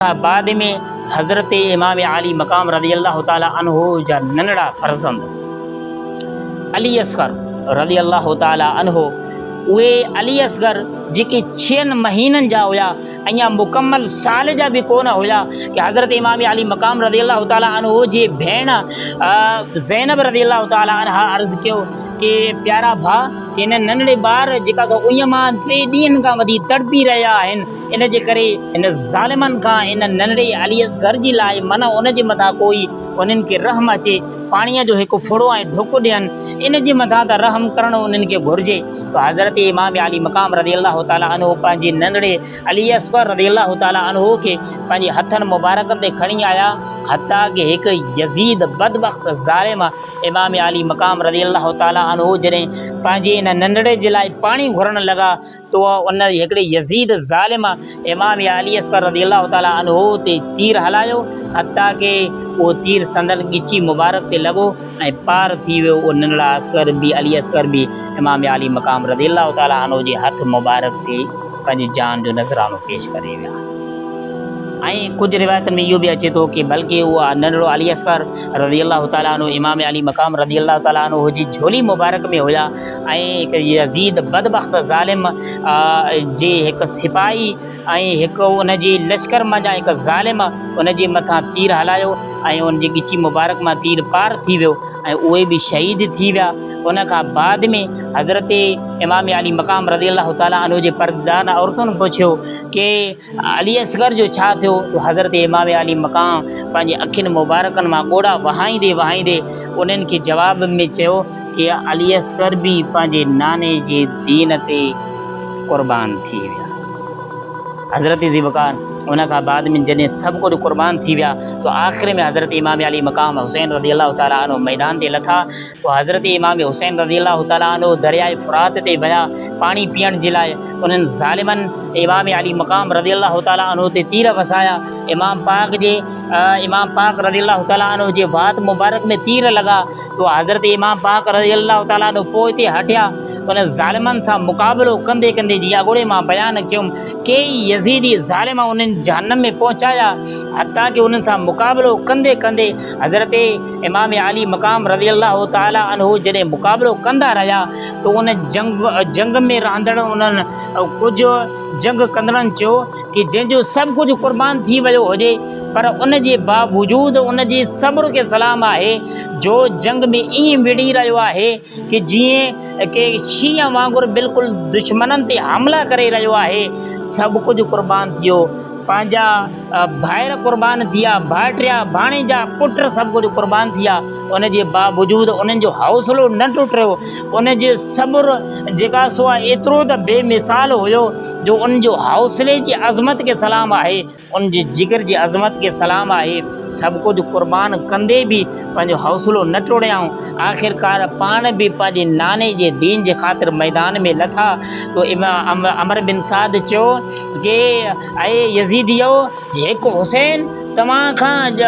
بعد ۾ حضرت امام عالي مقام رضي الله تعالٰي عنه جا ننڍڙا فرزند علي اصغر رضي الله تعالٰي عنه اهي علي اصغر جيڪي ڇهن مهينن جا هيا اڃا مڪمل سال جا به ڪونه هيا ته حضرت امام علي مقام رضي الله تعالٰي عنه جي ڀيڻ زينب رضي الله تعالٰي عنها عرض ڪيو ڪي پيارا ڀا ڪي ننڍڙي ٻار جيڪا سو اڃا مان ٽي ڏينهن کان وڌي تڙپي رهيا آهن ان جي ڪري هن ظالمن کان ان ننڍڙي علي اصغر جي لاء منع ان جي مٿان ڪوئي انهن کي رحم اچي پاڻيء جو هڪ ڦڙو ۽ ڍڪ ڏين ان جي مٿان ته رحم ڪرڻو انهن کي گهرجي ته حضرت امام علي مقام رضي الله تعالٰي عنه پنهنجي ننڍڙي علي اصغر رضي الله تعالٰي عنه کي پنهنجي هٿن مبارڪن تي کڻي آيا حتيٰ ڪه هڪ يزيد بدبخت ظالم امام علي مقام رضي الله تعالٰي عنه جڏهن پنهنجي ان ننڍڙي جي لاء پاڻي گهرڻ لڳا تو ان هڪڙي يزيد ظالم امام علي اصغر رضي الله تعاليٰ عنه تي تير هلايو، حتيٰ ڪه اهو تير سندن ڳچي مبارڪ تي لڳو ۽ پار ٿي ويو، اهو ننڍڙا اصغر به، علي اصغر به، امام علي مقام رضي الله تعاليٰ عنه جي هٿ مبارڪ تي پنهنجي جان جو نذرانو پيش ڪري ويا. ۽ ڪجهه روايتن ۾ اهو به اچي ٿو ڪه بلڪه اهو ننڍڙو علي اصغر رضي الله تعاليٰ عنه امام علي مقام رضي الله تعاليٰ عنه جي جهولي مبارڪ ۾ هيا، ۽ هڪ يزيد بدبخت ظالم جي هڪ سپاهي ۽ هڪ ان جي لشڪر منجهان هڪ ظالم ان جي مٿان تير هلايو ۽ ان جي ڳچي مبارڪ مان تير پار ٿي ويو ۽ اهي به شهيد ٿي ويا ان کان بعد ۾ حضرت امام علي مقام رضي الله تعالٰي عنه جي پرده دار عورتن پڇيو ڪي علي اصغر جو ڇا ٿيو جو حضرت امام عالي مقام پنهنجي اکين مبارڪن مان ڳوڙها وهائيندي وهائيندي انهن کي جواب ۾ چيو ته علي اصغر به پنهنجي ناني جي دين تي قربان ٿي ويا. حضرت ذوالفقار ان کان بعد ۾ جڏهن سڀ ڪجهه قربان ٿي ويا ته آخر ۾ حضرت امام عالي مقام حسين رضي الله تعالٰي عنه ميدان تي لٿا. پوء حضرت امام حسين رضي الله تعالٰي عنه درياء فرات تي ويا پاڻي پيئڻ جي لاء، انهن ظالمن امام علي مقام رضي الله تعالٰي عنه تي تير وسايا، امام پاڪ جي امام پاڪ رضي الله تعالٰي عنه جي وات مبارڪ ۾ تير لڳا تو حضرت امام پاڪ رضي الله تعالٰي عنه پوئتي هٽيا، انهن ظالمن سان مقابلو ڪندي ڪندي جيئن اڳوڻي مان بيان ڪيم ڪيئي يزيدي ظالم انهن جهنم ۾ پهچايا حتيٰ ڪي انهن سان مقابلو ڪندي ڪندي حضرت امام عالي مقام رضي الله تعالٰي عنه جڏهن مقابلو ڪندا رهيا ته ان جنگ ۾ رهندڙ انهن ڪجهه جنگ ڪندڙن چيو ته جنهن جو سڀ ڪجهه قربان ٿي ويو هجي پر ان جي باوجود ان جي صبر کي سلام آهي جو جنگ ۾ ائين وڙهي رهيو آهي ڪي جيئن ڪي شينهن وانگر بلڪل دشمنن تي حملا ڪري رهيو آهي، سڀ ڪجهه قربان ٿيو، پنهنجا ڀائر قربان ٿيا، ڀائٽيا، ڀاڻيجا، پٽ سڀ ڪجهه قربان ٿيا، ان جي باوجود انهن جو حوصلو نه ٽٽيو، انهن جو صبر جيڪا سو ايترو ته بي مثال هيو جو انهن جو حوصلي جي عظمت کي سلام آهي. ان جي جگر جي عظمت کي سلام آهي. سڀ ڪجهه قربان ڪندي به پنهنجو حوصلو نه ٽوڙيائون. آخرڪار پاڻ به پنهنجي ناني جي دين جي خاطر ميدان ۾ لٿا تو امام عمرو بن سعد چيو ڪي اي يزيديؤ! هڪ حسين توهان کان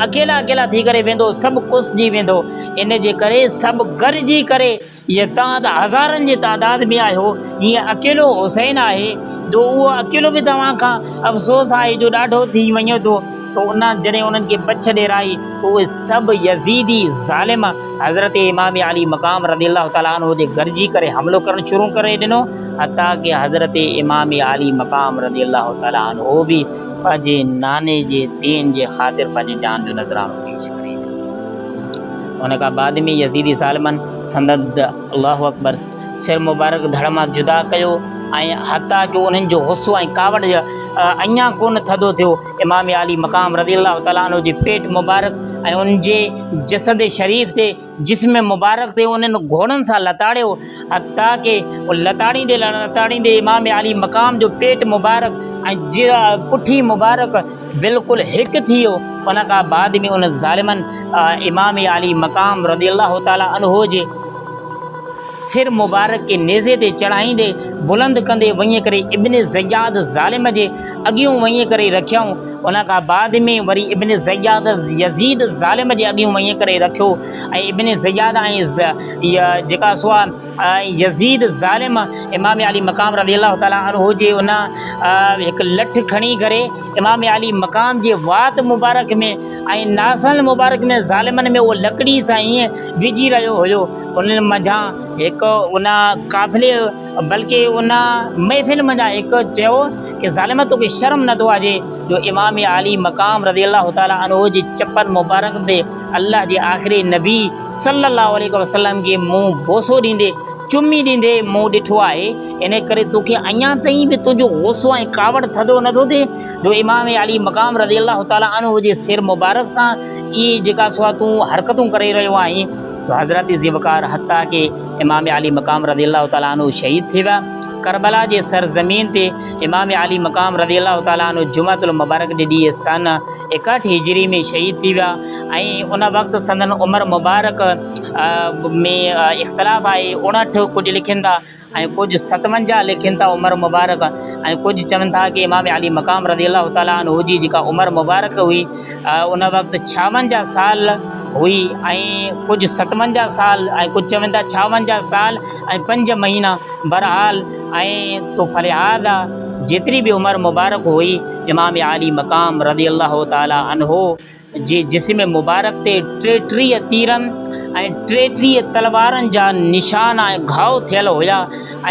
اڪيلا اڪيلا ٿي ڪري ويندو سڀ ڪس جي ويندو. ان جي ڪري سڀ گڏجي ڪري. يتان ته هزارن جي تعداد ۾ آهيو، جيئن اڪيلو حسين آهي، جو اهو اڪيلو به توهان کان افسوس آهي جو ڏاڍو ٿي وڃو ٿو، تو ان جڏهن انهن کي پڇ ڏيرائي ته اهي سڀ يزيدي ظالم حضرت امام علي مقام رضي الله تعالٰي عنه تي گرجي ڪري حملو ڪرڻ شروع ڪري ڏنو، حتيٰ ڪه حضرت امام علي مقام رضي الله تعالٰي عنه به پنهنجي ناني جي دين جي خاطر پنهنجي جان جو نذرانو پيش ڪري ڏنو. ان کان بعد ۾ يزيدي ظالمن سندن د الله اڪبر سر مبارڪ ڌڙ مان جدا ڪيو ۽ حتيٰ جو انهن جو غصو ۽ ڪاوڙ اڃا ڪونه ٿڌو ٿيو، امام عالي مقام رضي الله تعالٰي عنه جي پيٽ مبارڪ ۽ ان جي جسد شريف تي، جسم مبارڪ تي انهن گهوڙن سان لتاڙيو. حتيٰ ڪي او لتاڙيندي لتاڙيندي امام عالي مقام جو پيٽ مبارڪ ۽ جيء پٺي مبارڪ بلڪل هڪ ٿي ويو. ان کان بعد ۾ انهن ظالمن امام عالي مقام رضي الله تعالٰي عنه جي سر مبارڪ کي نيزي تي چڙهائيندي بلند ڪندي وڃي ڪري ابن زياد ظالم جي اڳيون وڃي ڪري رکيائون. ان کان بعد ۾ وري ابن زياد يزيد ظالم جي اڳيون وڃي ڪري رکيو. ۽ ابن زياد ۽ ز جيڪا سوا يزيد ظالم امام علي مقام رضي الله تعالٰي عنه جي ان هڪ لٺ کڻي ڪري امام علي مقام جي وات مبارڪ ۾ ۽ ناسن مبارڪ ۾ ظالمن ۾ اهو لڪڙي سان ائين وجهي رهيو هيو انهن منجهان هڪ ان قافلي بلڪه ان محفل منجهان هڪ چيو ڪي ظالم توکي شرم نٿو اچي جو امام علي مقام رضي الله تعالٰي عنه جي چپل مبارڪ تي الله جي آخري نبي صلّي اللّٰه عليه وسلّم کي مون بوسو ڏيندي، چمي ڏيندي، مون ڏٺو آهي، ان ڪري توکي اڃا تائين به تنهنجو غصو ۽ ڪاوڙ ٿڌو نٿو ٿئي، جو امام علي مقام رضي الله تعالٰي عنه جي سر مبارڪ سان اهي جيڪا سوا تون حرڪتون ڪري رهيو آهين، تو حضرات ذي وقار حتيٰ ڪي امام علي مقام رضي الله تعالٰي عنه شهيد ٿي ويا، ڪربلا جي سر زمين تي امام علي مقام رضي الله تعالٰي عنه جمعة المبارڪ جي ڏينهن سنه ايڪاهٺ هجري ۾ شهيد ٿي ويا ۽ ان وقت سندن عمر مبارڪ ۾ اختلاف آهي اڻهٺ ڪجهه لکين ٿا ۽ ڪجهه ستونجاهه لکين ٿا عمر مبارڪ ۽ ڪجهه چون ٿا ڪي امام علي مقام رضي الله تعالٰي عنه جي جيڪا عمر مبارڪ هئي ان وقت ڇاونجاهه سال هئي ۽ ڪجهه ستونجاهه سال ۽ ڪجهه چون ٿا ڇاونجاهه سال ۽ پنج مهينا برحال ۽ تو فلهاذا جيتري به عمر مبارڪ هئي امام عالي مقام رضي الله تعالٰي عنه جي جسم مبارڪ تي ٽيٽيهه تيرن ۽ ٽيٽيهه تلوارن جا نشان ۽ گهاء ٿيل هيا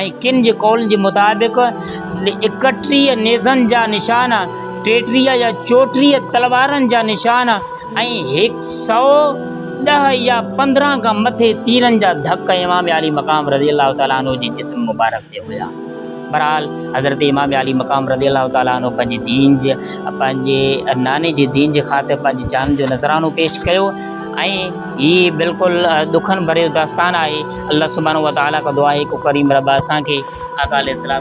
۽ ڪن جي قولن جي مطابق اڪٽيهه نيزن جا نشان، ٽيٽيهه يا چوٽيهه تلوارن جا نشان ۽ هڪ سؤ ڏهه يا پندرهن کان مٿي تيرن جا ڌڪ امام عالي مقام رضي الله تعالٰي عنه جي جسم مبارڪ تي هيا. بھرحال حضرت امام عالي مقام رضي الله تعالٰي عنه پنھنجي دين جي پنھنجي ناني جي دين جي خاطر پنھنجي جان جو نذرانو پيش ڪيو ۽ ھي بلڪل ڏکن ڀريو داستان آھي الله سبحانه وتعالٰي کان دعا آھي ڪو ڪريم رب اسان کي آقا عليه الصلوة